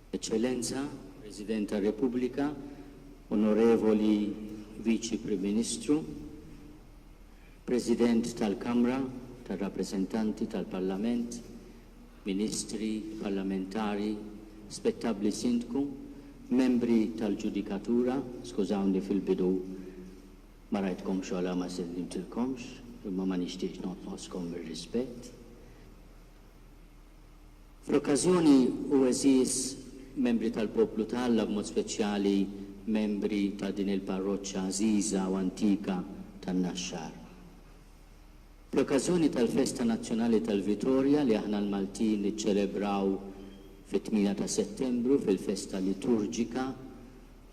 Eċċellenza, President tar-Repubblika, Onorevoli Viċi Prim Ministru, President tal-Kamra tar-Rappreżentanti tal-Parlament, Ministri, Parlamentari, Spettabbli Sindku, Membri tal-Ġudikatura, skużawni fil-bidu ma rajtkomx u għala ma sellimtilkomx, imma ma nixtieqx nonqoskom mir-rispett. Fl-okkażjoni, u għeżież membri tal-poplu ta' Alla, b'mod speċjali membri ta' din il-parroċċa għażiża u antika tan-Naxxar. Bl-okkażjoni tal-festa nazzjonali tal-Vitorja li aħna l-Maltin niċċelebraw fit-tmienja ta' Settembru fil-festa liturġika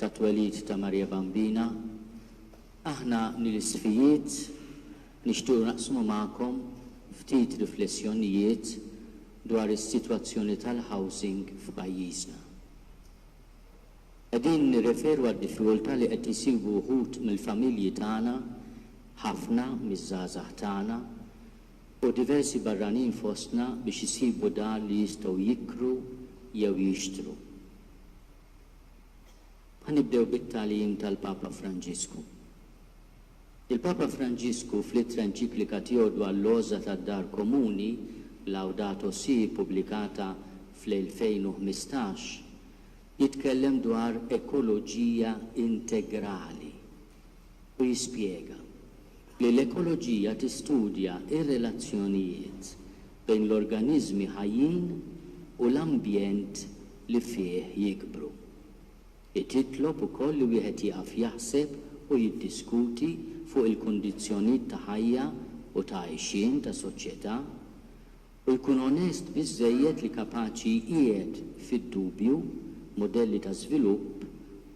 tat-twelid ta' Marija Bambina, aħna nil-isfijiet, Nixtiequ naqsmu magħkom ftit riflessjonijiet dwar is-sitwazzjoni tal-housing f'pajjiżna. Qegħdin nirreferu għad-diffikultà li qed isibu wħud mill-familji tagħna, ħafna miż-żgħażagħ tagħna, u diversi barranin fostna biex isibu dar li jistgħu jikru jew jixtru. Ħa nibdew bit-tagħlim tal-Papa Franġisku. Il-Papa Franġisku fl-ittra enċiklika tiegħu dwar l-għożża tad-dar komuni, Laudato Si' ppubblikata fl-2015, jitkellem dwar ekoloġija integrali u jispjega li l-ekoloġija tistudja r-relazzjonijiet bejn l-organiżmi ħajjin u l-ambjent li fih jikbru. Hi titlob ukoll li wieħed jieqaf jaħseb u jiddiskuti fuq il-kundizzjonit ta' ħajja u ta' għajxien ta' soċjetà u jkun onest biżżejjed li kapaċi jqiegħed fid-dubju mudelli ta' żvilupp,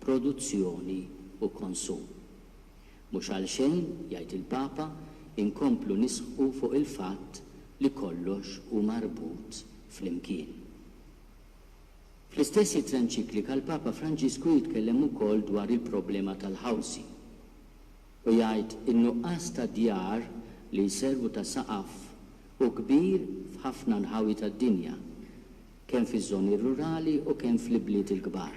produzzjoni u konsum. Mhux għalxejn, jgħid il-Papa, inkomplu nisħqu fuq il-fatt li kollox hu marbut flimkien. Fl-istess ittra enċiklika l-Papa Franġisku jitkellem ukoll dwar il-problema tal-housing u jgħid in-nuqqas ta' djar li jservu ta' saqaf hu kbir f'ħafna nħawi tad-dinja, kemm fiż-żoni rurali u kemm fl-ibliet il-kbar.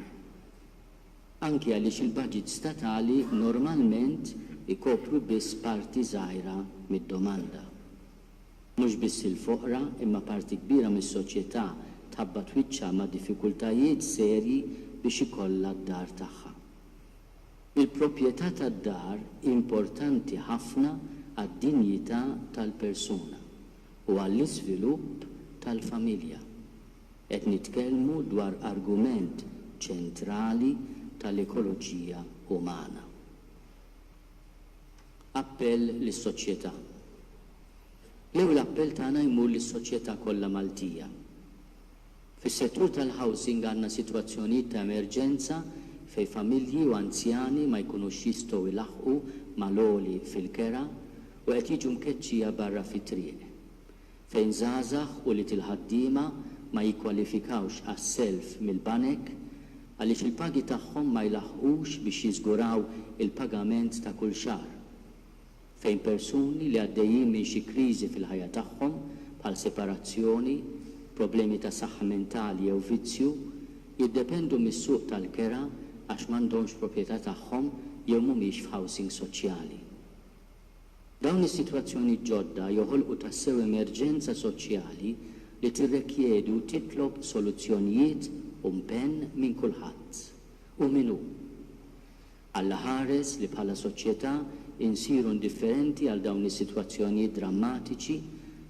Anki għaliex il-baġits statali normalment ikopru biss parti żgħira mid-domanda. Mhux biss il-foqra imma parti kbira mis-soċjetà tħabbat wiċċha ma' diffikultajiet serji biex ikollha d-dar tagħha. Il-proprjetà tad-dar hi importanti ħafna għad-dinjità tal-persuna u għall-iżvilupp tal-familja. Qed nitkellmu dwar argument ċentrali tal-ekoloġija umana. Appell lis-soċjetà. L-ewwel appell tagħna jmur lis-soċjetà kollha Maltija. Fis-settur tal-housing għandna sitwazzjonijiet ta' emerġenza fejn familji u anzjani ma jkunux jistgħu jlaħħqu mal-għoli fil-kera u qed jiġu mkeċċija barra fit-triq. Fejn żgħażagħ u ulied il-ħaddiema ma jikkwalifikawx għas-self mill-banek għaliex il-pagi tagħhom ma jlaħħqux biex jiżguraw il-pagament ta' kull xahar. Fejn persuni li għaddejjin minn xi kriżi fil-ħajja tagħhom, bħal separazzjoni, problemi ta' saħħa mentali jew vizzju, jiddependu mis-suq tal-kera għax m'għandhomx proprjetà tagħhom jew mhumiex f'housing soċjali. Dawn is-sitwazzjonijiet ġodda joħolqu tassew emerġenza soċjali li tirrekjedi u titlob soluzzjonijiet u mpenn minn kulħadd. U min hu? Alla ħares li bħala soċjetà insiru indifferenti għal dawn is-sitwazzjonijiet drammatiċi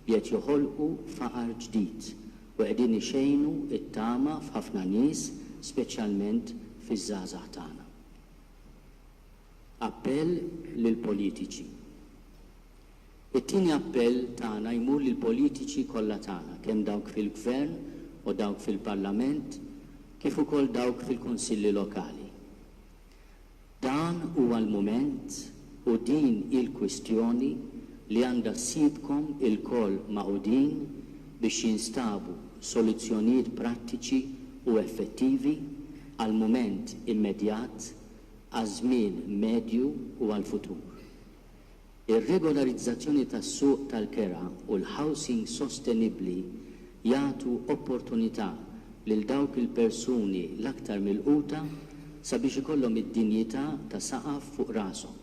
li qed joħolqu faqar ġdid u qegħdin ixejnu t-tama f'ħafna nies, speċjalment fiż-żgħażagħ tagħna. Appell lill-politiċi It-tieni appell tagħna jmur lill-politiċi kollha tagħna, kemm dawk fil-Gvern u dawk fil-Parlament kif ukoll dawk fil-Kunsilli Lokali. Dan huwa l-mument u din hi l-kwistjoni li għandha ssibkom ilkoll magħqudin biex jinstabu soluzzjonijiet prattiċi u effettivi għall-mument immedjat għaż-żmien medju u għall-futur. Ir-regolarizzazzjoni tas-suq tal-kera u l-housing sostenibbli jagħtu opportunità lil dawk il-persuni l-aktar milquta sabiex ikollhom id-dinjità ta' saqaf fuq rashom.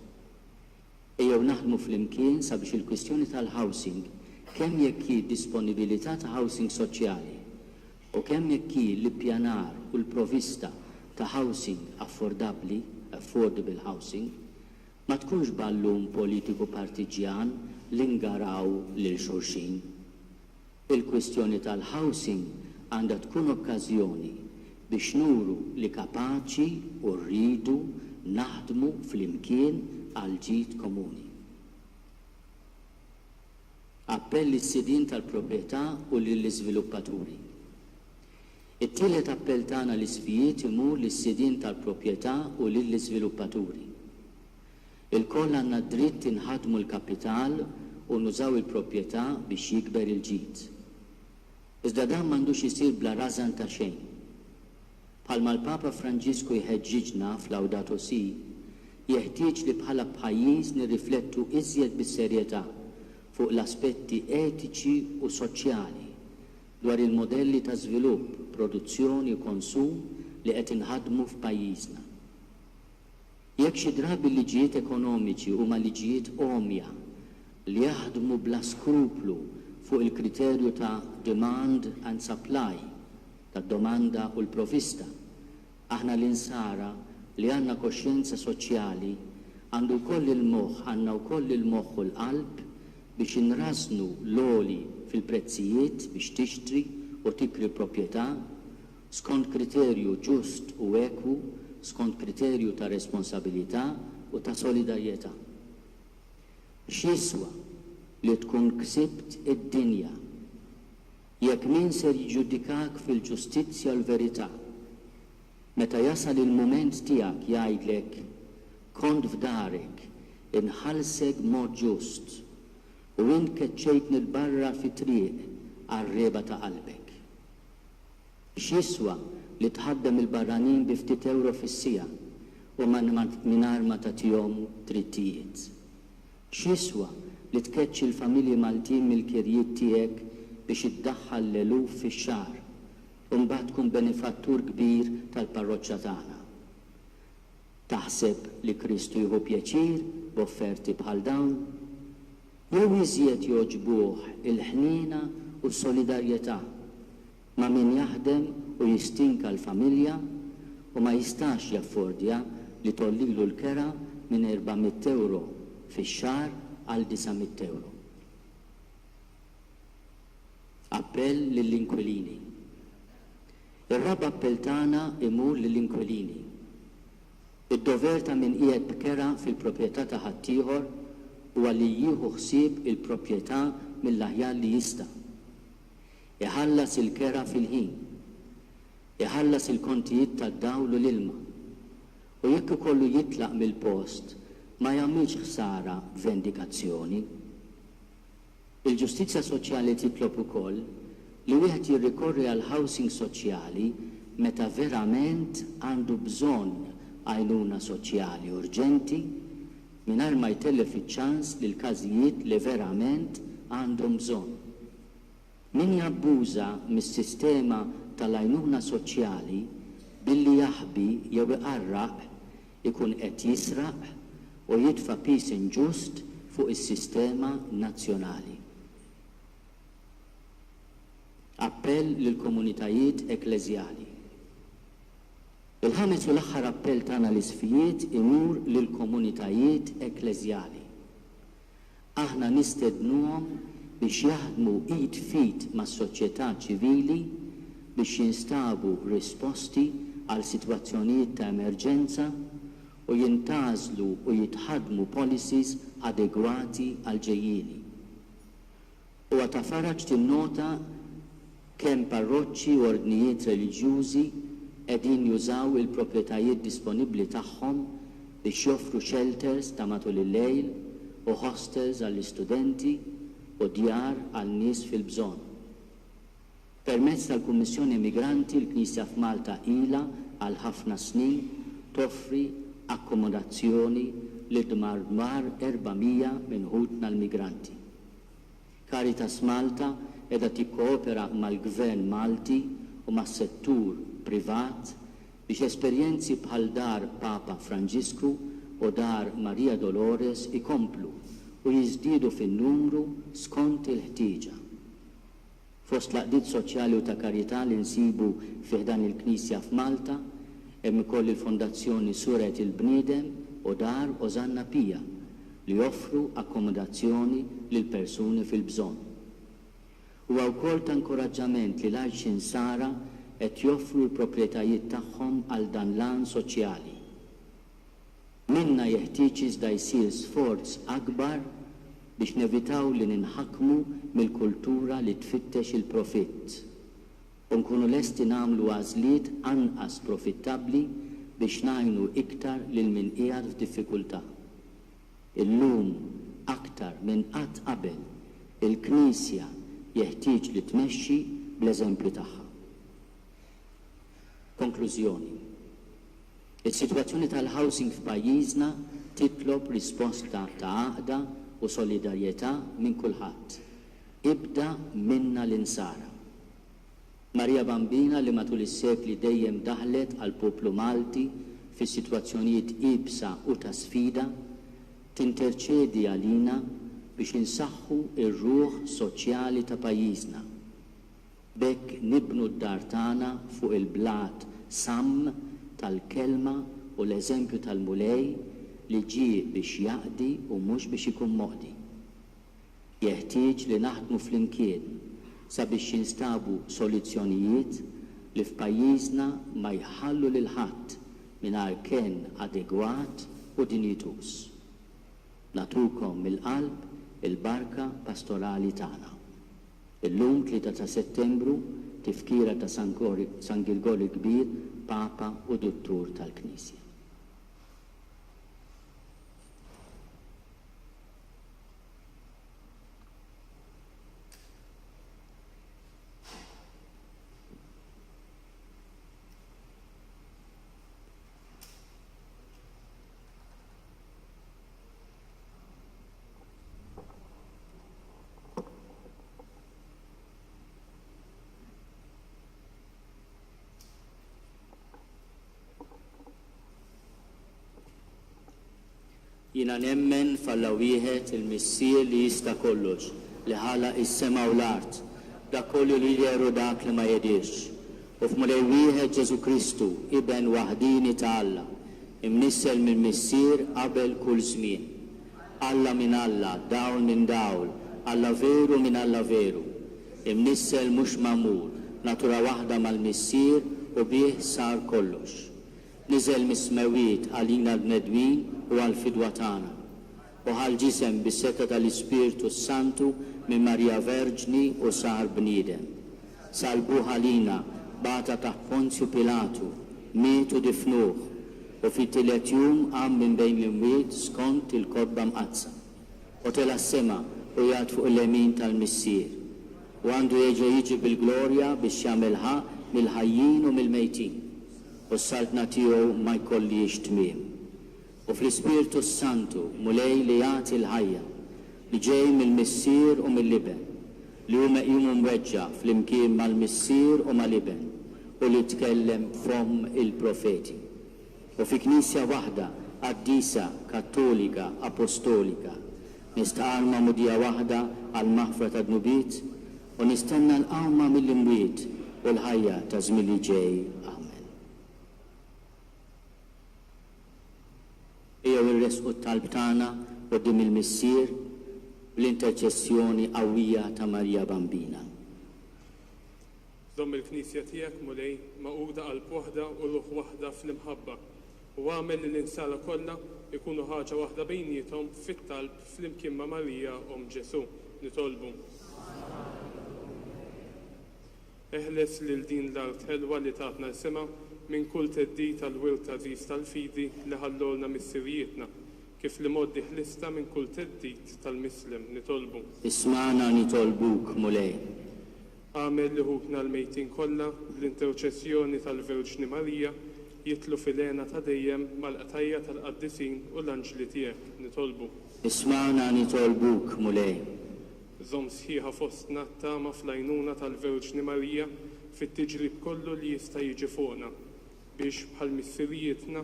Ejjew naħdmu flimkien sabiex il-kwistjoni tal-housing, kemm jekk hi d-disponibilità ta' housing soċjali u kemm jekk hi l-ippjanar u l-provista ta' housing affordabbli, affordable housing, ma tkunx ballun politiku partiġġjan li ngaraw lil xulxin. Il-kwistjoni tal-housing għandha tkun okkażjoni biex nuru li kapaċi u rridu naħdmu flimkien għall-ġid komuni. Appell lis-sidien tal-proprjetà u lill-iżviluppaturi. It-tielet appell tagħna lis-SPIET imur lis-sidien tal-proprjetà u lill-iżviluppaturi. Ilkoll għandna d-dritt inħaddmu l-kapital u nużaw il-proprjetà biex jikber il-ġid. Iżda dan m'għandux isir bla rażan ta' xejn. Bħalma l-Papa Franġisku jħeġġiġna f'Laudato Si', jeħtieġ li bħala pajjiż nirriflettu iżjed bis-serjetà fuq l-aspetti etiċi u soċjali dwar il-modelli ta' żvilupp, produzzjoni u konsum li qed inħaddmu f'pajjiżna. Jekk xi drabi l-liġijiet ekonomiċi huma liġijiet għomja li jaħdmu bla skruplu fuq il-kriterju ta' demand and supply, tad-domanda u l-provista, aħna l-Insara li għandna koxjenza soċjali għandu jkoll il-moħħ għandna wkoll il-moħħ u l-qalb biex inrażżnu l-għoli fil-prezzijiet biex tixtri u tikri proprjetà skont kriterju ġust u ekwu, skont kriterju ta' responsabilità u ta' solidarjetà. X'jiswa li tkun ksibt id-dinja, jekk min ser jiġġudikak fil-ġustizzja u l-verità, meta jasal il-mument tiegħek jgħidlek, Kont f'darek, inħallsek b'mod ġust, u int keċċejtni 'l barra fit-triq għar-riegħba ta' qalbek? X'jiswa li tħaddem il-barranin bi ftit ewro fis-siegħa u mingħajr ma tagħtihom drittijiet? X'jiswa li tkeċċi l-familji Maltin mill-kirjiet tiegħek biex iddaħħal l-eluf fix-xahar u mbagħad tkun benefattur kbir tal-parroċċa tagħna? Taħseb li Kristu jieħu pjaċir b'offerti bħal dawn? Jew iżjed jogħġbuh il-ħniena u s-solidarjetà ma' min jaħdem u jistinka l-familja u ma jistax jaffordja li tgħollilu l-kera minn erba' mitt ewro fix-xahar għal disa' mitt ewro? Appell lill-inkwilini Ir-raba' appell tagħna imur lill-inkwilini Id-dover ta' min qiegħed b'kera fil-proprjetà ta' ħaddieħor huwa li jieħu ħsieb il-proprjetà mill-aħjar li jista', iħallas il-kera fil-ħin, iħallas il-kontijiet tad-dawl u l-ilma, u jekk ikollu jitlaq mill-post ma jagħmilx ħsara b'vendikazzjoni. Il-ġustizzja soċjali titlob ukoll li wieħed jirrikorri għal housing soċjali meta verament għandu bżonn għajnuna soċjali urġenti, mingħajr ma jtellef iċ-ċans li l-każijiet li verament għandhom bżonn. Min jabbuża mis-sistema tal-għajnuna soċjali billi jaħbi jew iqarraq ikun qed jisraq u jitfa' piż inġust fuq is-sistema nazzjonali. Appell lill-komunitajiet ekklesjali. Il-ħames u l-aħħar appell tagħna l-Isqfijiet imur lill-komunitajiet ekklesjali. Aħna nistednuhom biex jaħdmu id f'id mas-soċjetà ċivili biex jinstabu risposti għal sitwazzjonijiet ta' emerġenza u jintgħażlu u jitħaddmu policies adegwati għall-ġejjieni. Huwa ta' faraġ tinnota kemm parroċċi u ordnijiet reliġjużi qegħdin jużaw il-proprjetajiet disponibbli tagħhom biex joffru xelters ta' matul il-lejl u ħostels għall-istudenti u djar għal nies fil-bżonn. Permezz tal-Kummissjoni Immigranti l-Knisja f'Malta ilha għal ħafna snin toffri akkomodazzjoni lil madwar 400 minn ħutna l-migranti. Caritas Malta qiegħda tikkoopera mal-Gvern Malti u mas-settur privat biex esperjenzi bħal Dar Papa Franġisku u Dar Maria Dolores ikomplu u jiżdiedu fin-numru skont il-ħtieġa. Fost l-għaqdiet soċjali u ta' karità li nsibu fi ħdan il-Knisja f'Malta, hemm ukoll il-Fondazzjoni Surgħet il-Bniedem u Dar Osanna Pia li joffru akkomodazzjoni lil persuni fil-bżonn. Huwa wkoll ta' inkuraġġament li l-Għajx Insara qed joffru l-proprjetajiet tagħhom għal dan l-għan soċjali. Minna jeħtieġ iżda jsir sforz akbar biex nevitaw li ninħakmu mill-kultura li tfittex il-profitt u nkunu lesti nagħmlu għażliet anqas profittabbli biex ngħinu iktar lil min qiegħed f'diffikultà. Illum aktar minn qatt qabel, il-Knisja jeħtieġ li tmexxi bl-eżempju tagħha. Konklużjoni, Is-sitwazzjoni tal-housing f'pajjiżna titlob risposta ta' għaqda u solidarjetà minn kulħadd, ibda minna l-Insara. Marija Bambina li matul is-sekli dejjem daħlet għall-poplu Malti fis-sitwazzjonijiet iebsa u ta' sfida, tinterċedi għalina biex insaħħu r-ruħ soċjali ta' pajjiżna. B'hekk nibnu d-dar tagħna fuq il-blat samm tal-Kelma u l-eżempju tal-Mulej li ġie biex jaqdi u mhux biex ikun moqdi. Jeħtieġ li naħdmu flimkien sabiex jinstabu soluzzjonijiet li f'pajjiżna ma jħallu lil ħadd mingħajr kenn adegwat u dinjituż. Nagħtukom mill-qalb il-barka pastorali tagħna. Illum, Tlieta ta' Settembru, Tifkira ta' San Gori, San Girgor il-Kbir, Papa u Duttur tal-Knisja. Jiena nemmen f'Alla wieħed, il-Missier li jista' kollox, li ħalaq is-sema u l-art, dak kollu li jidher u dak li ma jidhirx. U f'Mulej wieħed Ġesù Kristu, Iben waħdieni ta' Alla, imnissel mill-Missier qabel kull żmien. Alla minn Alla, dawl minn dawl, Alla veru minn Alla veru. Imnissel mhux magħmul, natura waħda mal-Missier u bih sar kollox. Niżel mis-smewwiet għalina l-bnedmin u għall-fidwa tagħna. Bħal ġisem bis-setgħa tal-Ispirtu s-Santu minn Marija Verġni u sar bniedem. Salbuh għalina, bata taħt Ponzju Pilatu, miet u difnuh, u fit-tielet jum qam minn bejn l-imwiet skont il-Kotba Mqaddsa. Hu tela' s-sema u jgħad fuq il-lemin tal-Missier. U għandu jeġa' jiġi bil-glorja biex jagħmel ħaqq mill-ħajjin u mill-mejtin. U s-Saltna tiegħu ma jkollhiex tmiem. u fl-Ispirtu s-Santu, Mulej li jagħti l-ħajja, li ġej mill-Missier u mill-Iben, li hu meqjum u mweġġa' flimkien mal-Missier u mal-Iben u li tkellem b'fomm il-profeti, u fi Knisja waħda qaddisa, kattolika, apostolika, nistqarr magħmudija waħda għall-maħfra tad-dnubiet u nistenna l-qawma mill-imwiet u l-ħajja taż-żmien li ġej. Amen. Ejjew iressqu t-talb tagħna quddiem il-Missier bl-interċessjoni qawwija ta' Marija Bambina. Żomm il-Knisja tiegħek, Mulej, magħquda qalb waħda u ruħ waħda fl-imħabba, u agħmel li l-insara kollha jkunu ħaġa waħda bejniethom fit-talb flimkien ma' Marija, Omm Ġesù, nitolbu. Eħles lil din l-art ħelwa li tatna isimha minn kull theddid għall-wirt għażiż tal-fidi li ħallulna missirijietna, kif l-imgħoddi ħlistna minn kull theddid tal-mislem. Nitolbu. Ismagħna nitolbuk, Mulej. Agħmel li ħutna l-mejtin kollha, bl-interċessjoni tal-Verġni Marija, jidħlu fil-hena ta' dejjem mal-qtajja' tal-qaddisin u l-anġli tiegħek. Nitolbu. Ismagħna nitolbuk, Mulej. Żomm sħiħa fostna t-tama fl-għajnuna tal-Verġni Marija fit-tiġrib kollu li jista' jiġi fuqna, biex, bħal missirijietna,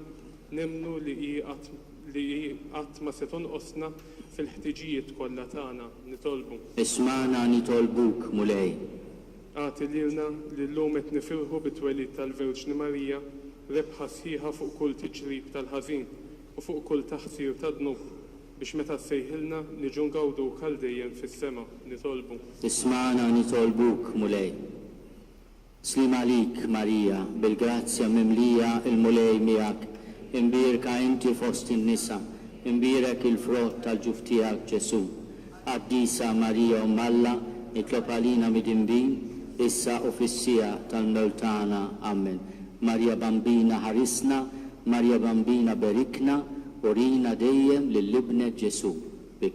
nemmnu li hi qatt li hi qatt ma se tonqosna fil-ħtiġijiet kollha tagħna. Nitolbu. Ismagħna nitolbuk, Mulej. Agħti lilna, li llum qed nifirħu bit-twelid tal-Verġni Marija, rebħa sħiħa fuq kull tiġrib tal-ħażin u fuq kull taħsir tad-dnub, Biex meta ssejħilna, niġu ngawduk għal dejjem fis-sema, nitolbu. Ismagħna nitolbuk, Mulej. Sliem għalik, Marija, bil-grazzja mimlija, il-Mulej miegħek, imbierka inti fost in-nisa, imbierek il-frott tal-ġuf tiegħek, Ġesù. Qaddisa Marija Omm Alla, itlob għalina midinbin, issa u fis-siegħa tal-mewt tagħna. Amen. Marja Bambina ħarisna, Marja Bambina berikna, urina dejjem lil Ibnek Ġesù. Bi.